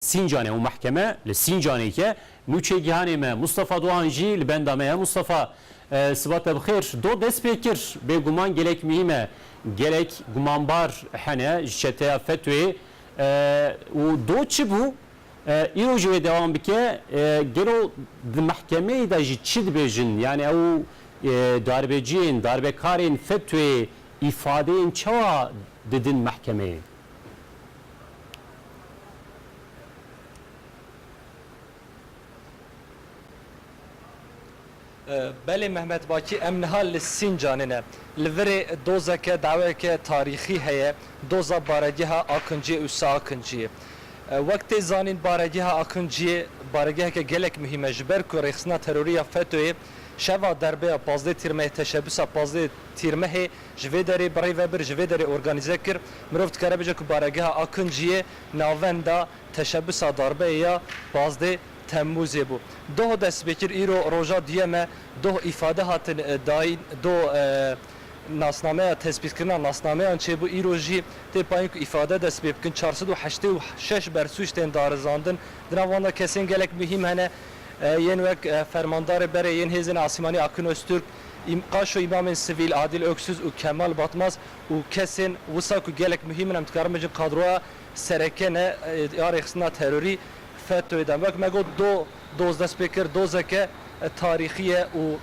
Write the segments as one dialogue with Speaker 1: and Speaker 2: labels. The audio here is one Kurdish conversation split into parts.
Speaker 1: Sîncanê û mehkeme li Sîncanê ke nûçegihanê me Mustafa Doan jî li benda me ye. Mustafa, siba te bi xêr. Do dest pê kir bêguman gelek muhîm e. Gelek gumanbar hene ji çeteya FETÖ'yê û do çi bû? Îro jî wê dewam bike. Gelo di mehkemeyê de jî çi dibêjin? Yanî ew darbeciyên, darbekarên FETÖ'yê îfadeyên çawa didin mehkemeyê?
Speaker 2: Belê Mehmet Bakî em niha li Sîncanê ne. Li virê dozeke daweyeke tarîxî heye, doza Baregeha Akinciyê û Siakinciyê. Wek tê zanîn Baregeha Akinciyê baregeheke gelek muhîm e ji ber ku rêxistina terorî ya FETÖ'yê şeva derbeya pazdeh Tîrmehê teşebbûsa pazdeh Tîrmehê Ji vê derê birey ve bir ji vê derê organîze kir, mirov dikare bêje ku baregeha Akunciyê navenda teşebusa darbeyê ya pazdeh Temmûzê bû. Doh dest pê kir, îro roja duyem e, doh îfade hatin dayîn, doh nasnameya tespîtkirina nasnameyan çêbû, îro jî tê payîn ku îfade dest pê bikin. Çar sed û heştê û şeş bersûc tên darizandin, di nav wan de kesên gelek muhîm hene yên wek Fermandarê Berê yên Hêzên Asîmanî Akun Ozturk, Qaşo îmamên sivîl Adîl Oksuz û Kemal Batmaz û kesên wisa ku gelek muhîm in em dikarin bijin kadroya sereke ne ya rêxistina terorî FETÖ'yê de. Wek me got do doz dest pê kir, dozeke tarîxî ye û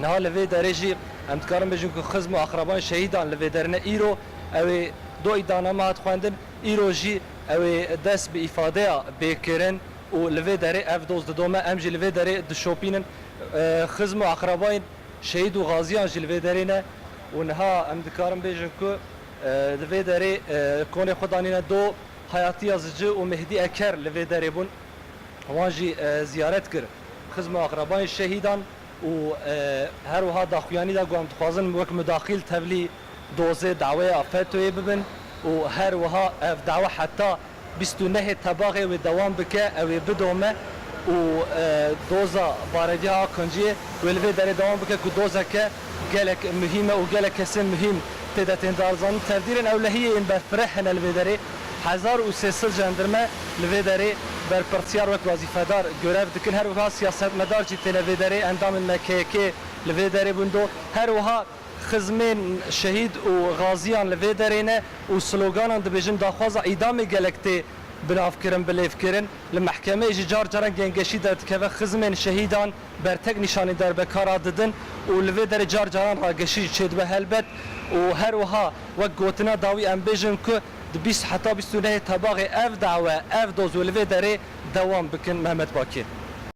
Speaker 2: niha li vê derê jî em dikarin bijin ku xizm û aqrabayên şehîdan li vê derê ne. Îro ew ê do îddianame hat xwendin, îro jî ew ê dest bi îfadeya bê kirin. Û li vê derê ev doz didome, em jî li vê derê dişopînin. Xizm û aqrabayên şehîd û gaziyan jî li vê derê ne û niha em dikarin bêjin ku li vê derê konê xwe danîne do. Hayatiya Zici û Mehdî Eker li vê derê bûn. Wan jî ziyaret kir xizm û aqrabayên şehîdan û her wiha daxuyanî da ku em dixwazin wek mudaxîl tevlî Dozê daweya FETÖ'yê bibin û her wiha ev dawe heta bîst û nehê tebaxê wê dewam bike, ew ê bidome û doza baregeha Aqinciyê wê li vê derê dewam bike ku dozeke gelek muhîm e û gelek kesên muhîm tê de tên darizandin. Tevdîrên ewlehiyê yên berfireh hene li vê derê. Hezar û sê sed jendirme li vê derê berpirsyar wek wezîfedar gurev dikin. Her wiha siyasetmedar jî têne vê derê, endamên MKYK'ê li vê derê bûn do. Her wiha. Xizmên şehîd û gaziyan li vê derê ne û sloganan dibêjin daxwaza îdamê gelek tê binavkirin, bilêvkirin. Li mehkemeyê jî car caran gengeşî derdikeve xizmên şehîdan bertek nîşanî derbekara didin û li vê derê car caran rageşî jî çêdibe helbet û her wiha wek gotina dawî em bêjin ku di bîst heta bîst û nehê tebaxê ev dawe ev doz û li vê derê dewam bikin Mehmet Bakir.